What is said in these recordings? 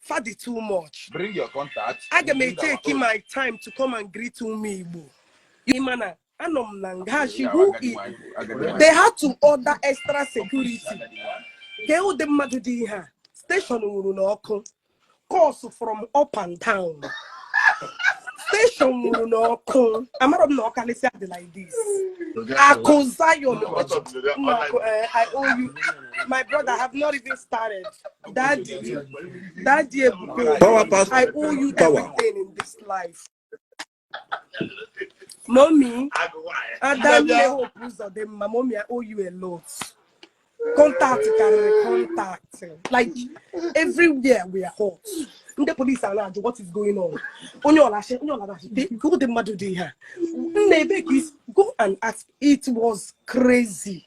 fadi too much bring your contact aga m eteki my time to come and greet ụmụ igbo ị ma na anọ m na nga she who they had to order extra security kee ụdị mmadụ dị ihe a station nwuru n'ọkụ calls from up and down station nwuru n'ọkụ amarọ m na ọkalịsịa dị like this akụ zion akụ eh, i owe you my brother I have not even started daddy daddy ebube power pass power I owe you everything in this life mommy adanne hope ụzọdịmma mommy I owe you a lot contact karịrị contact like everywhere we are hot ndị polisi a na-ajụ what is going on onye ọlachi onye ọlachi kee ụdị mmadụ dị ihe a nna ebe ka is go and ask it was crazy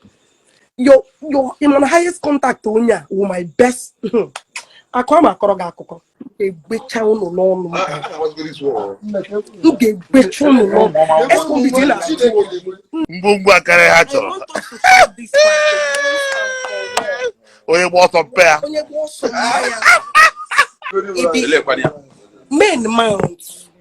your your in my highest contact onye a wụ my best akụ a ma akọrọ gị akụkọ m ga-egbecha ụnụ n'ọnụ m ga-egbecha ụnụ n'ọnụ escobit na ngwongwo akarị ha chọrọ onye gba ọsọ mpe ya onye gba ọsọ mma ya men mount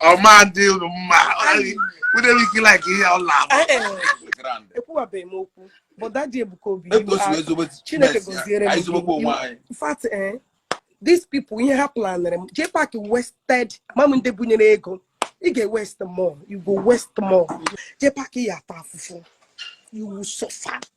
ọ ma dị unu mma ike like ihe ọla ekwuwabeghị m okwu but daddy ebuka obi chineke gozie in fact eh, these people ihe ha planere m jpac wasted ma ndị bunyere ego ị ga-ewaste more you go waste more jpac ị ya-ata afụfụ you will suffer